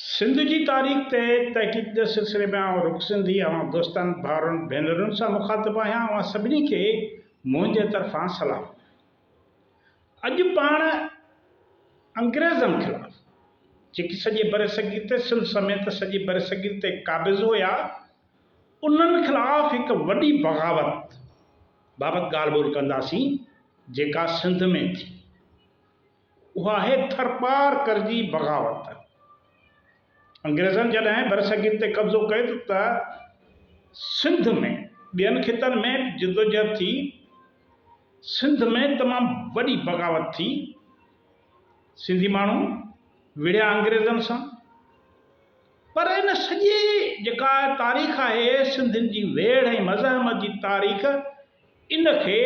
سنڌ جي تاريخ تي تحقيق جي سلسلي ۾ آئون رخ سنڌي اوهان دوستن ڀائرن ڀينرن سان مخاطب آهيان اوهان سڀني کي منهنجي طرفان سلام اڄ پاڻ انگريزن خلاف جيڪي سڄي برصغير تي سنڌ سميت سڄي برصغير تي قابض هيا انهن خلاف هڪ وڏي بغاوت بابت ڳالهه ٻولهه ڪنداسين جيڪا سنڌ ۾ ٿي اها آهي ٿرپارڪر جي بغاوت. انگريزن جڏهن برصغير تي قبضو ڪيو ته سنڌ ۾ ٻين خطن ۾ به جدوجهد ٿي. سنڌ ۾ تمام وڏي بغاوت ٿي. سنڌي ماڻهو وڙهيا انگريزن سان. پر ان سڄي جيڪا تاريخ آهي سنڌين جي ويڙهه ۽ مزاحمت جي تاريخ ان کي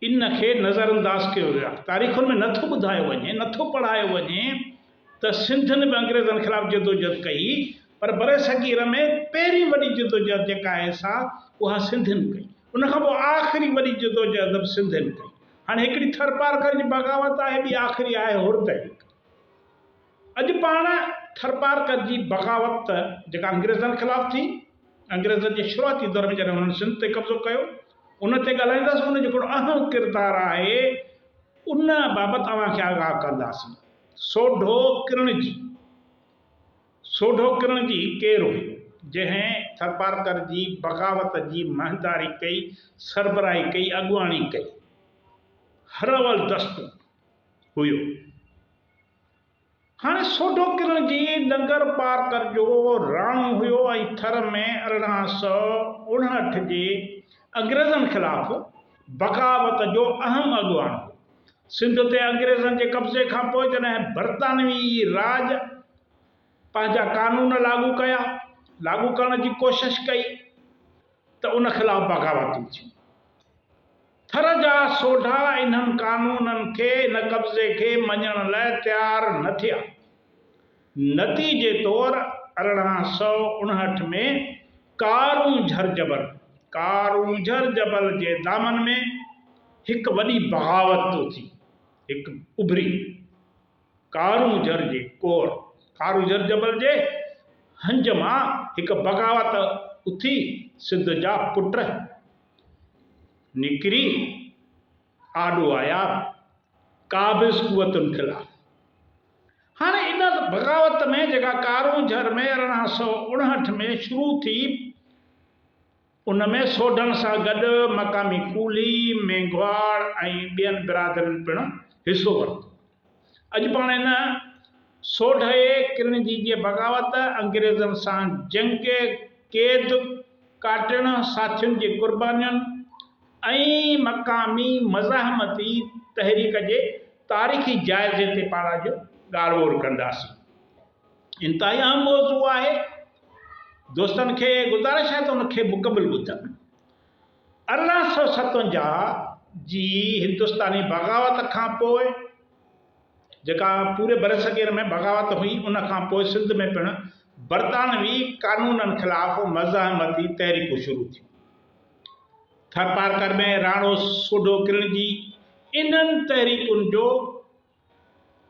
ان کي نظر انداز ڪيو ويو آهي. تاريخن ۾ نه ٿو ٻڌايو وڃي، نه ٿو پڙهايو وڃي ته سنڌين به انگريزن خلاف جدوجهد ڪئي پر برصغير ۾ پهرين وڏي جدوجهد جيڪا آهي سا اها سنڌين ڪئي. ان کان پوء آخري وڏي جدوجهد به سنڌين ڪئي. هاڻي هڪڙي ٿرپارڪر جي بغاوت آهي، ٻي آخري آهي هور تحريڪ. اڄ پاڻ ٿرپارڪر جي بغاوت ته جيڪا انگريزن خلاف ٿي، انگريزن جي شروعاتي دور ۾ جڏهن هنن سنڌ تي قبضو ڪيو، ان تي ڳالهائينداسين، ان جو ڪهڙو اهم ڪردار آهي، ان بابت اوهان کي آگاهه ڪنداسين. سوڍو ڪرڻجي، سوڍو ڪرڻجي ڪير هو، جنهن ٿرپارڪر جي بغاوت جي مهنداري ڪئي، سربراهي ڪئي، اڳواڻي ڪئي؟ هراول دستو هيو. هاڻي سوڍو ڪرڻ جي ڏنگر پار ڪر جو راڻو هيو ۽ ٿر ۾ ارڙهن سؤ اڻهٺ جي انگريزن خلاف بغاوت جو اهم اڳواڻ هو. سنڌ تي انگريزن جي قبضي کان پوء جڏهن برطانوي راڄ پنهنجا قانون لاڳو ڪيا، لاڳو ڪرڻ جي ڪوشش ڪئي ته ان خلاف بغاوتون ٿيون. ٿر جا سوڍا انهن قانونن کي، ان قبضي کي مڃڻ لاء تيار نه ٿيا. نتيجي طور ارڙهن سؤ اڻهٺ ۾ ڪارون جهر جبل، Karunjhar Jabal، جي دامن ۾ هڪ وڏي بغاوت اٿي. هڪ اڀري ڪارون جهر جي ڪور، Karunjhar Jabal، جي هنج مان هڪ بغاوت اٿي سنڌ جا پٽ، نڪري آڏو آيا قابض قوتن خلاف هاڻ ان بغاوت ۾ جيڪا ڪارونجهر ۾ ارڙهن سؤ اڻهٺ ۾ شروع ٿي ان ۾ سوڍن سان گڏ مقامي ڪولهي، مينگهواڙ ۽ ٻين برادرين پڻ حصو ورتو. اڄ پاڻ ان سوڍئي ڪرنجي جي بغاوت، انگريزن سان جنگ، قيد ڪاٽڻ، ساٿين جي قربانين ۽ مقامي مزاحمتي تحريڪ جي تاريخي جائزي تي پاڻ اڄ ڳالهه ٻولهه ڪنداسين. انتهائي اهم موضوع آهي. دوستن کي گذارش آهي ته ان کي مڪمل ٻڌن. ارڙهن سؤ ستونجاهه جي هندستاني بغاوت کان پوء جيڪا پوري برصغير ۾ بغاوت هئي ان کان پوء سنڌ ۾ پڻ برطانوي قانونن خلاف مزاحمتي تحريڪون شروع ٿيون. ٿرپارڪر ۾ راڻو سوڍو ڪرڻجي انهن تحريڪن جو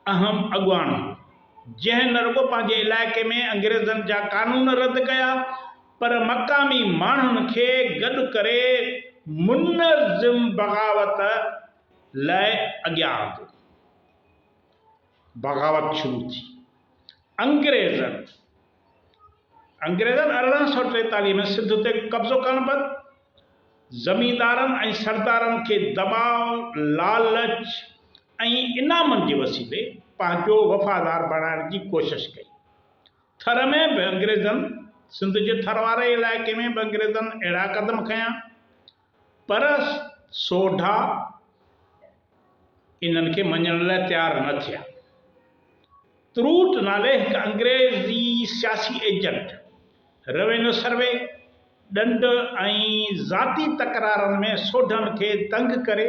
اهم اڳواڻ، جنهن نه رڳو پنهنجي علائقي ۾ انگريزن جا قانون رد ڪيا پر مقامي ماڻهن کي گڏ ڪري منظم بغاوت لاء اڳيان آندو. بغاوت شروع ٿي. انگريزن. انگريزن ارڙهن سؤ ٽيتاليهه ۾ سنڌ تي قبضو ڪرڻ بعد زميندارن ۽ سردارن کي دٻاء، لالچ ۽ انعامن جي وسيلي پنهنجو وفادار بڻائڻ جي ڪوشش ڪئي. ٿر ۾ به انگريزن سنڌ جي ٿر واري علائقي ۾ به انگريزن اهڙا قدم کنيا، پر سوڍا انهن کي مڃڻ لاء تيار نه ٿيا. تروٽ نالي هڪ انگريزي سياسي ايجنٽ، روينيو سروي، ڏنڊ ۽ ذاتي تڪرارن ۾ سوڍن کي دنگ ڪري،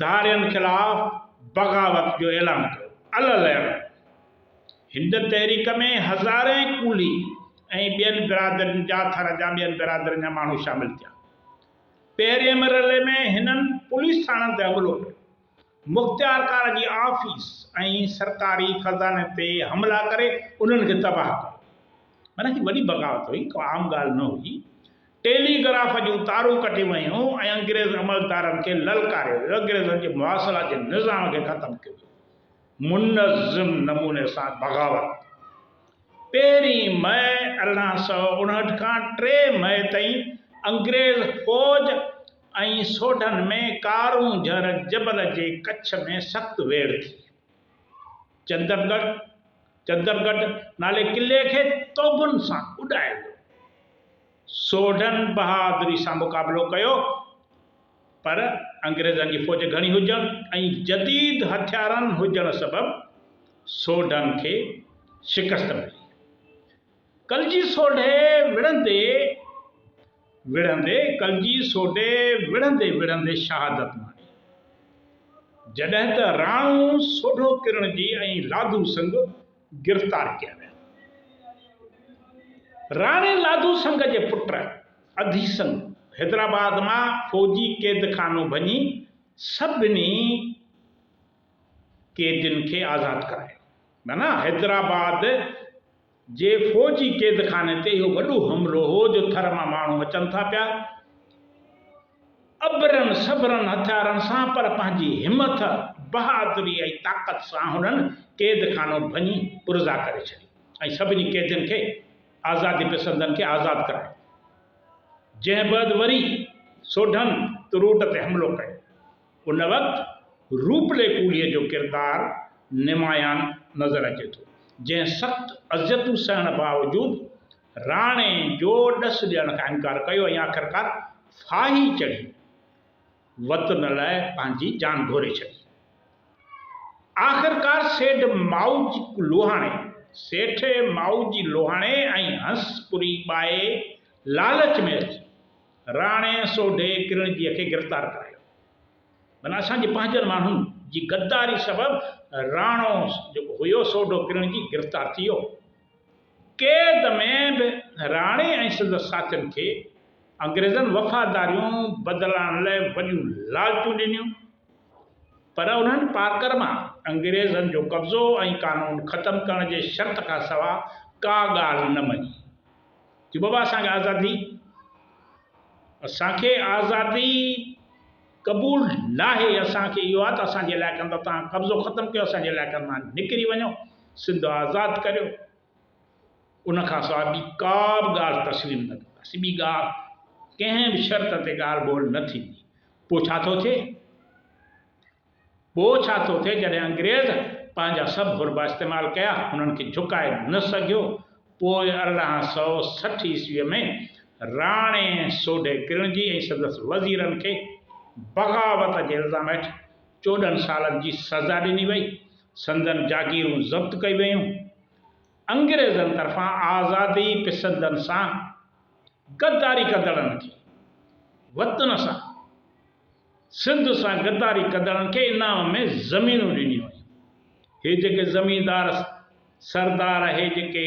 ڌارين خلاف بغاوت جو اعلان ڪيو. العلم هن تحريڪ ۾ هزارين ڪولهي ۽ ٻين برادرين جا ٿر جا ٻين برادرين جا ماڻهو شامل ٿيا. پهرين مرحلي ۾ هنن پوليس ٿاڻن تي حملو ڪيو. مختيارڪار جي آفيس ۽ سرڪاري خزاني تي حملا ڪري انهن کي تباهه ڪيو. معنيٰ هي وڏي بغاوت هئي ڪا عام ڳالهه نه هئي. ٽيلي گراف جون تارون ڪٽي ويون ۽ انگريز عملدارن کي للڪاريو ويو، انگريزن جي مواصلات جي نظام کي ختم ڪيو ويو، منظم نموني سان بغاوت پهرين مئي ارڙهن سؤ اڻهٺ کان ٽي مئي تائين انگريز فوج ۽ سوڍن ۾ ڪارون جهر جبل جي ڪڇ ۾ سخت ويڙهه ٿي چندرڳڙهه، چندرگڍ نالي قلعي کي توبن سان اڏائي ويو. سوڍن بهادري سان مقابلو ڪيو پر انگريزن جي فوج گهڻي هجڻ ۽ جديد هٿيارن هجڻ سبب سوڍن کي شڪست ملي. ڪلجي سوڍي وڙهندي وڙهندي ڪلجي سوڍي وڙهندي وڙهندي شهادت ماڻي. جڏهن ته راڻو سوڍو ڪرڻجي ۽ لاڌو سنگهه گرفتار ڪيا ويا. راڻي لاڌو سنگهه جي پٽ اڌي سنگهه حيدرآباد مان فوجي قيدخانو ڀڃي سڀني قيدين کي آزاد ڪرايو. حيدرآباد جي فوجي قيدخاني تي اهو وڏو حملو هو جو ٿر مان ماڻهو اچن ٿا پيا ابرن سبرن هٿيارن سان پر پنهنجي همٿ، بهادري ۽ طاقت سان هنن قيدخانو ڀڃي پرزا ڪري ڇڏي ۽ سڀني قيدين کي آزادي پسندن کي آزاد ڪرايو. جنهن بعد وري سوڍن تروٽ تي حملو ڪيو. ان وقت روپلي ڪولهي جو ڪردار نمايان نظر اچي ٿو، جنهن سخت اذيتون سهڻ باوجود راڻي جو ڏس ڏيڻ کان انڪار ڪيو ۽ آخرڪار ڦاهي چڙهي وطن لاء پنهنجي جان گهوري ڇڏي. آخرڪار سيڍ مائوجي لوهاڻي، سيٺي مائوجي لوهاڻي ۽ هنس پوري ٻائي لالچ ۾ اچي، راڻي سوڍي ڪرڻجيء کي گرفتار ڪرايو ڀلا اسان جي پنهنجن ماڻهن جي غداري سبب راڻو جيڪو هيو سوڍو ڪرڻجي گرفتار ٿي ويو. قيد ۾ به راڻي ۽ سندس ساٿين کي انگريزن وفاداريون بدلائڻ لاء وڏيون لالچون ڏنيون پر انهن پارڪر مان انگريزن جو قبضو ۽ قانون ختم ڪرڻ جي شرط کان سوا ڪا ڳالهه نه مڃي. چي بابا اسان کي آزادي اسان کي آزادي قبول ناهي اسان کي اهو آهي ته اسان جي علائقن تان توهان قبضو ختم ڪيو اسان جي علائقن مان نڪري وڃو سنڌ آزاد ڪريو ان کان سواء ٻي ڪا به ڳالهه تسليم نه ڪنداسين ٻي ڳالهه ڪنهن به شرط تي ڳالهه ٻولهه نه ٿيندي پوء ڇا ٿو ٿئي پوء ڇا ٿو ٿئي جڏهن انگريز پنهنجا سڀ حربا استعمال ڪيا هنن کي جهڪائي نه سگهيو پوء ارڙهن سؤ سٺ عيسويء ۾ راڻي سوڍي ڪرڻجي ۽ سندس وزيرن کي بغاوت جي الزام هيٺ چوڏهن سالن جي سزا ڏني وئي سندن جاگيرون ضبط ڪئي ويون انگريزن طرفان آزادي پسندن سان غداري ڪندڙن کي وطن سان سنڌ سان غداري ڪندڙن کي انعام ۾ زمينون ڏنيون ويون. هي جيڪي زميندار سردار اهي جيڪي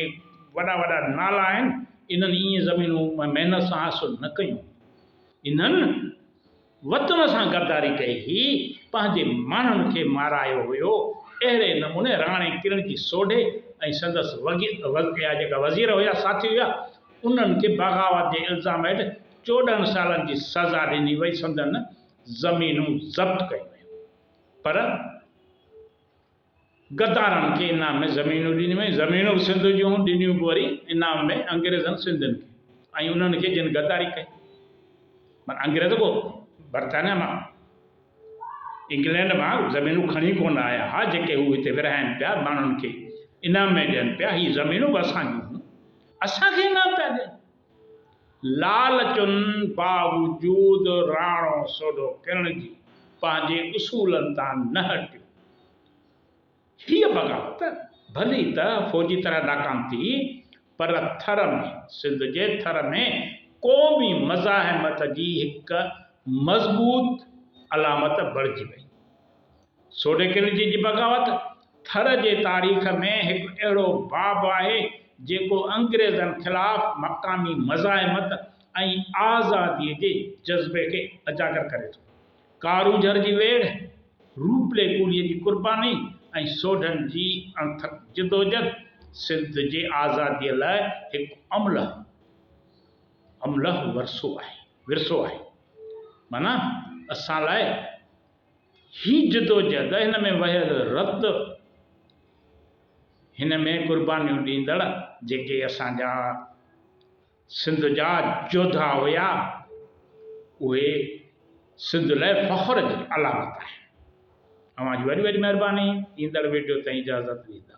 وڏا وڏا نالا آهن انهن ايئن زمينون محنت سان حاصل نه ڪيون هيون. انهن وطن سان غداري ڪئي هئي، پنهنجي ماڻهن کي مارايو هيو. اهڙي نموني راڻي ڪرڻ جي سوڍي ۽ سندس وڳي جيڪا وزير هيا ساٿي هيا انهن کي بغاوت جي الزام هيٺ چوڏهن سالن جي سزا ڏني وئي سندن زمينون ضبط ڪيون ويون پر غدارن کي انعام ۾ زمينون ڏنيون ويون زمينون به سنڌ جون هون ڏنيون به وري انعام ۾ انگريزن سنڌين کي ۽ انهن کي جن غداري ڪئي مگر انگريز ڪو برطانيا مان انگلينڊ مان زمينون کڻي ڪون آيا ها جيڪي هو هتي ورهائن پيا ماڻهن کي انعام ۾ ڏين پيا هي زمينون به اسان جون هون اسان کي انعام پيا ڏين لالچن باوجود راڻو سوڍو ڪرڻ جي پنهنجي اصولن تان نه هٽيو. هيء بغاوت ڀلي ته فوجي طرح ناڪام ٿي، پر ٿر ۾ سنڌ جي ٿر ۾ قومي مزاحمت جي هڪ مضبوط علامت بڻجي وئي. سوڊيڪل جي جي بغاوت ٿر جي تاريخ ۾ هڪ اهڙو باب آهي جيڪو انگريزن خلاف مقامي مزاحمت ۽ آزادي جي جذبي کي اجاگر ڪري ٿو. ڪارونجهر جي ويڙهه، روپلي ڪولهي جي قرباني ۽ سوڍن جي اڻٿڪ جدوجھد سنڌ جي آزادي لاء هڪ املهه املهه ورثو آهي ورثو آهي معنيٰ اسان لاء هي جدوجهد، هن ۾ وهيل رت، هن ۾ قربانيون ڏيندڙ جيڪي اسان جا سنڌ جا جوڌا هيا اهي سنڌ لاء فخر جي علامت آهي. اوهان جي وڏي وڏي مهرباني ايندڙ ويڊيو تائين اجازت ڏيندا.